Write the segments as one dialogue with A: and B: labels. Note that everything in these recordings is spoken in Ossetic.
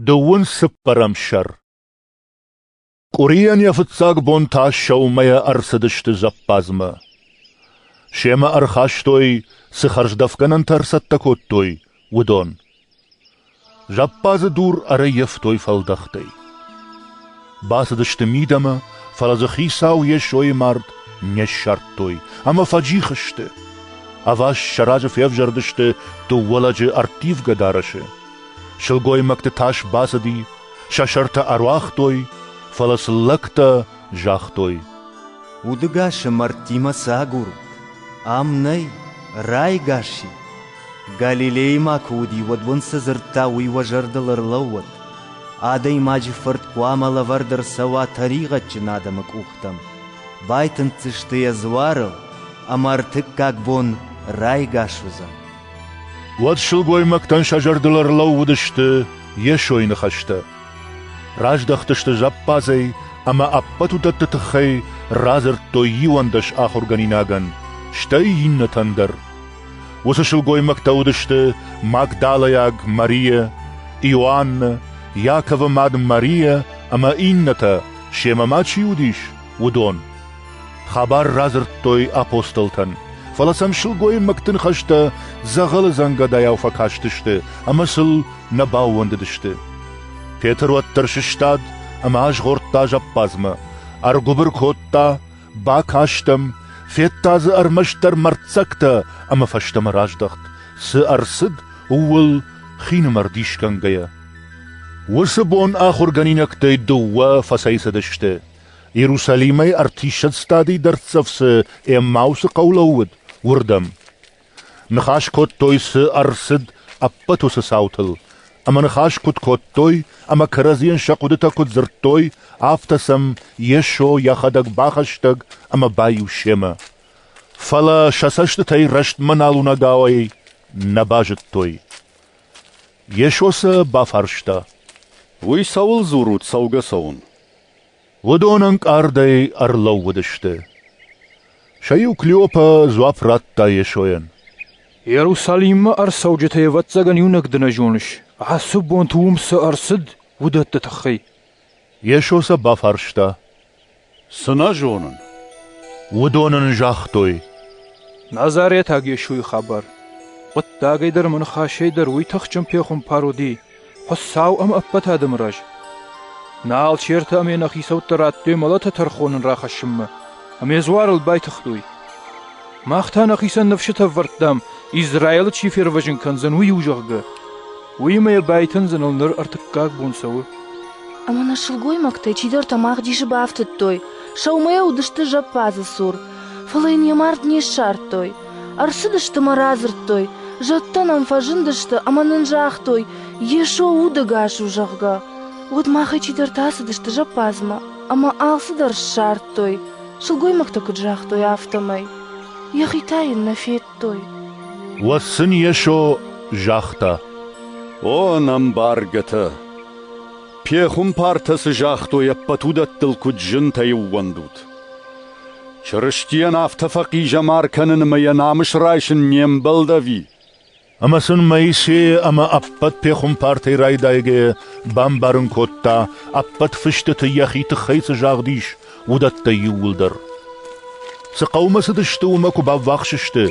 A: Дыууын цыппӕрӕм сӕр Къуырийӕн йӕ фыццаг бон та сӕумӕйӕ ӕрцыдысты зӕппадзмӕ. Семӕ ӕрхастой, цы хӕрздӕфгӕнӕнтӕ ӕрцӕттӕ кодтой, уыдон. Зӕппадзы дур ӕрӕййӕфтой фӕлдӕхтӕй. Бацыдысты мидӕмӕ, фӕлӕ дзы хицау Йесойы мард не ссардтой ӕмӕ фӕджих сты. Ӕваст сӕ разы февзӕрдысты дыууӕ лӕджы ӕрттивгӕ дарӕсы, Сылгоймӕгты тас бацыди, сӕ сӕртӕ ӕруагътой, фӕлӕ сын лӕгтӕ загътой.
B: Удыгасы мӕрдтимӕ цы агур? Ам нӕй, райгас и. Галилейы ма куы уыди, уӕд уын цы дзырдта, уый уӕ зӕрдыл ӕрлӕууӕд. Адӕймаджы фырт хъуамӕ лӕвӕрд ӕрцӕуа тӕригъӕдджын адӕмы къухтӕм, байтынддзысты йӕ дзуарыл, ӕмӕ ӕртыккаг бон райгас уыдзӕн.
A: Уӕд сылгоймӕгтӕн сӕ зӕрдыл ӕрлӕууыдысты Йесойы ныхӕстӕ. Раздӕхтысты зӕппадзӕй ӕмӕ ӕппӕт уыдӕтты тыххӕй радзырдтой иуӕндӕс ахуыргӕнинагӕн, стӕй иннӕтӕн дӕр. Уыцы сылгоймӕгтӕ уыдысты Магдалайаг Марийӕ, Иоаннӕ, Иаковы мад Марийӕ ӕмӕ иннӕтӕ, семӕ ма чи уыдис, уыдон. Хабар радзырдтой апостолтӕн, фӕлӕ сӕм сылгоймӕгты ныхӕстӕ дзӕгъӕлы дзӕнгӕдайау фӕкастысты ӕмӕ сыл нӕ баууӕндыдысты. Петр уӕддӕр сыстад ӕмӕ азгъордта зӕппадзмӕ, ӕргуыбыр кодта, бакастӕм, федта дзы ӕрмӕстдӕр мӕрддзӕгтӕ ӕмӕ фӕстӕмӕ раздӕхт, цы ӕрцыд, ууыл хинымӕр дисгӕнгӕйӕ. Уыцы бон ахуыргӕнинӕгтӕй дыууӕ фӕцӕйцыдысты, Иерусалимӕй ӕртиссӕдз стадей дӕрддзӕф цы Эммаусы хъӕу лӕууыд, уырдӕм. Ныхас кодтой, цы ӕрцыд ӕппӕт уыцы цаутыл, ӕмӕ ныхас куыд кодтой ӕмӕ кӕрӕдзийӕн сӕ хъуыдытӕ куыд дзырдтой, афтӕ сӕм Йесо йӕхӕдӕг бахӕстӕг ӕмӕ баиу семӕ. Фӕлӕ сӕ цӕстытӕй рӕстмӕ налунӕгауӕй нӕ базыдтой. Йесо сӕ бафарста. «Уый
C: цӕуыл дзурут цӕугӕ цӕуын?» Уыдон
A: ӕнкъардӕй ӕрлӕууыдысты. Сӕ иу Клеопа дзуапп радта Йесойӕн. «Иерусалиммӕ
D: ӕрцӕуджытӕй, ӕвӕццӕгӕн, иунӕг дын зоныс. Ацы бонты уым цы ӕрцыд, уыдӕтты тыххӕй?» Йесо
A: сӕ бафарста. «Цы
C: нӕ зонын?» Уыдон
A: ын загътой.
D: «Назаретаг Йесойы хабар. Хъуыддагӕй дӕр ӕмӕ ныхасӕй дӕр уый тыхджын пехуымпар уыди. Хуыцау ӕм ӕппӕт адӕмы раз. Нӕ алчертӕ ӕмӕ нӕ хицӕуттӕ радтой мӕлӕты тӕрхонын рахӕссынмӕ ӕмӕ дзуарыл байтыгътой. Мах та нӕхицӕн ныфсытӕ ӕвӕрдтам, Израилы чи фервӕзын кӕндзӕн, уый у, зӕгъгӕ. Уыимӕ йӕ байтындзыныл ныр ӕртыккаг бон цӕуы. Ӕмӕ нӕ
E: сылгоймӕгтӕ чидӕртӕ мӕгъдисы бафтыдтой, сӕумӕйӕ уыдысты зӕппадзы цур, фӕлӕ йын йӕ мард не ссардтой. Ӕрцыдысты мӕ радзырдтой, зӕдтӕ нӕм фӕзындысты ӕмӕ нын загътой, Йесо удӕгас у, зӕгъгӕ. Уӕд махӕй чидӕртӕ ацыдысты зӕппадзмӕ ӕмӕ алцыдӕр ссардтой, сылгоймӕгтӕ куыд загътой, афтӕмӕй. Йӕхи та йын нӕ федтой. Уӕд сын
A: Йесо загъта: «О,
C: ӕмбаргӕтӕ! Пехуымпартӕ цы загътой, ӕппӕт уыдӕттыл куыд зынтӕ ӕууӕндут! Чырыстийӕн афтӕ фӕхъизӕмар кӕнын ӕмӕ йӕ намыс райсын не мбӕлдӕви. Ӕмӕ
A: сын Моисейы ӕмӕ ӕппӕт пехуымпартӕй райдайгӕйӕ бамбарын кодта, ӕппӕт фыстыты йӕхи тыххӕй цы загъд ис, уыдӕттӕй иууылдӕр. Цы хъӕумӕ цыдысты, уымӕ куы баввахс сты,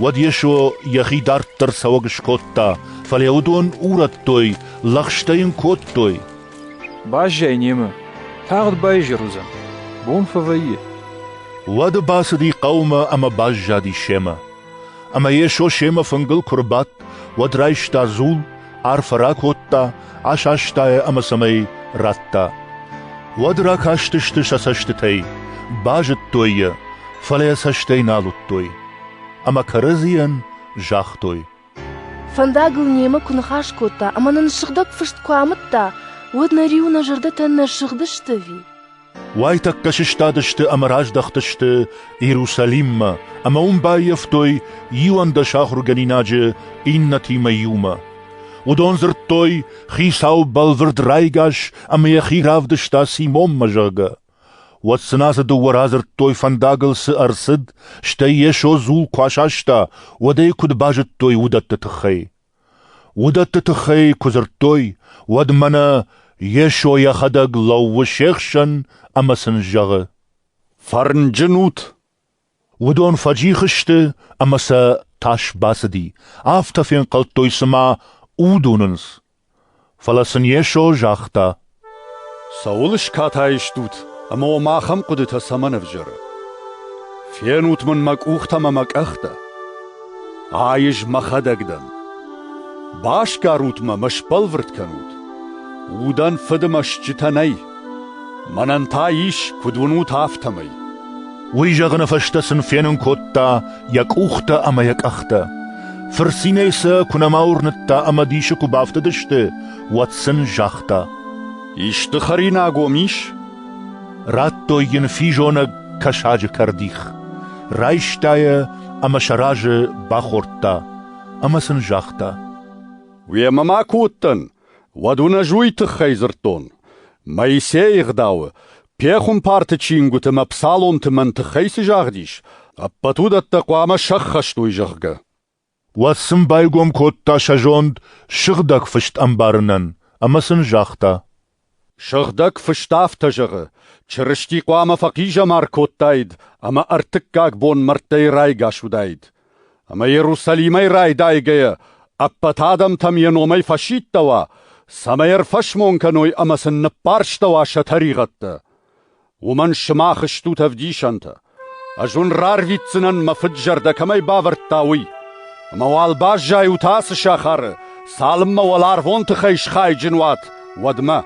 A: уӕд Йесо йӕхи дарддӕр цӕуӕг скодта, фӕлӕ уыдон урӕдтой, лӕгъстӕ йын кодтой, Баззайы
D: немӕ, тагъд баизӕр уыдзӕн, бон фӕвӕййы. Уӕды
A: бацыди хъӕумӕ ӕмӕ баззади семӕ. Ӕмӕ Йесо семӕ фынгыл куы рбадт, уӕд райста дзул, арфӕ ракодта, асаста йӕ ӕмӕ цӕмӕй радта. Уӕд ракастысты сӕ цӕстытӕй, базыдтой йӕ, фӕлӕ йӕ цӕстӕй нал уыдтой. Ӕмӕ кӕрӕдзийӕн загътой:
E: Фӕндагыл немӕ куы ныхас кодта ӕмӕ нын сыгъдӕг фыст куы амыдта, уӕд нӕ риу нӕ зӕрдӕтӕ нӕ сыгъдысты ӕви? Уайтӕккӕ
A: сыстадысты ӕмӕ раздӕхтысты Иерусалиммӕ ӕмӕ уым баййӕфтой иуӕндӕс ахуыргӕнинаджы иннӕтимӕ иумӕ. Уыдон дзырдтой, Хицау бӕлвырд райгас ӕмӕ йӕхи равдыста Симонмӕ, зӕгъгӕ. Уӕд сын ацы дыууӕ радзырдтой фӕндагыл цы ӕрцыд, стӕй Йесо дзул куы асаста, уӕд ӕй куыд базыдтой, уыдӕтты тыххӕй. Уыдӕтты тыххӕй куы дзырдтой, уӕд мӕнӕ Йесо йӕхӕдӕг лӕууы се хсӕн ӕмӕ сын зӕгъы: «Фӕрнджын
C: ут!» Уыдон
A: фӕджих сты ӕмӕ сӕ тас бацыди, афтӕ фенхъӕлдтой, цыма уд уынынц. Фӕлӕ сын Йесо загъта: «Цӕуыл
C: скатай стут ӕмӕ уӕм ахӕм хъуыдытӕ цӕмӕн ӕвзӕры? Фенут мын мӕ къухтӕ ӕмӕ мӕ къӕхтӕ!» Айыз мӕхӕдӕг дӕн. Басгарут мӕ мӕ сбӕлвырд кӕнут. Удӕн фыды мӕ стджытӕ нӕй. Мӕнӕн та ис, куыд уынут, афтӕмӕй. Уый зӕгъыны
A: фӕстӕ сын фенын кодта йӕ къухтӕ ӕмӕ йӕ къӕхтӕ. Фырцинӕй сӕ куы нӕма уырныдта ӕмӕ дисы куы бафтыдысты, уӕд сын загъта. Исты
C: хӕринаг уӕм ис?
A: Радтой йын физонӕг кӕсаджы кӕрдих. Райста йӕ ӕмӕ сӕ разы бахордта ӕмӕ сын загъта: «Уемӕ
C: ма куы уыдтӕн, уӕд уын ӕз уый тыххӕй дзырдтон: Моисейы ӕгъдауы, пехуымпарты чингуыты мӕ псаломты мӕн тыххӕй цы загъдис, ӕппӕт уыдӕттӕ хъуамӕ сӕххӕст уой, зӕгъгӕ». Уӕд сын
A: байгом кодта сӕ зонд Сыгъдӕг Фыст ӕмбарынӕн ӕмӕ сын загъта: Сыгъдӕг
C: фыст афтӕ зӕгъы: Чырысти хъуамӕ фӕхъизӕмар кодтаид ӕмӕ ӕртыккаг бон мӕрдтӕй райгас уыдаид. Ӕмӕ Иерусалимӕй райдайгӕйӕ ӕппӕт адӕмтӕм йӕ номӕй фӕсидтӕуа, цӕмӕй ӕрфӕсмон кӕной ӕмӕ сын ныппӕрстӕуа сӕ тӕригъӕдтӕ. Уымӕн сымах стут ӕвдисӕнтӕ. Ӕз уын рарвитдзынӕн, мӕ фыд-зӕрдӕ кӕмӕй бавӕрдта, уый. Ӕмӕ уал баззайут ацы сахары, цалынмӕ уӕларвон тыхӕй схайджын уат, уӕдмӕ.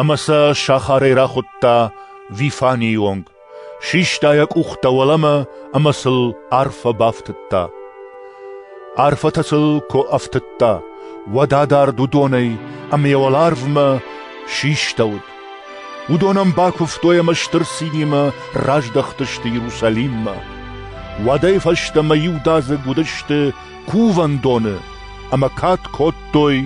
A: Ӕмӕ сӕ сахарӕй рахуыдта Вифанийы онг. Систа йӕ къухтӕ уӕлӕмӕ ӕмӕ сыл арфӕ бафтыдта. Арфӕтӕ сыл куы ӕфтыдта, уӕд адард уыдонӕй, ӕмӕ йӕ уӕларвмӕ систӕуыд. Уыдон ӕм бакуывтой ӕмӕ стыр цинимӕ раздӕхтысты Иерусалиммӕ. Уӕдӕй фӕстӕмӕ иудадзыг уыдысты кувӕндоны ӕмӕ кад кодтой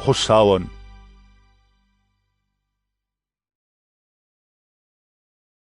A: Хуыцауӕн.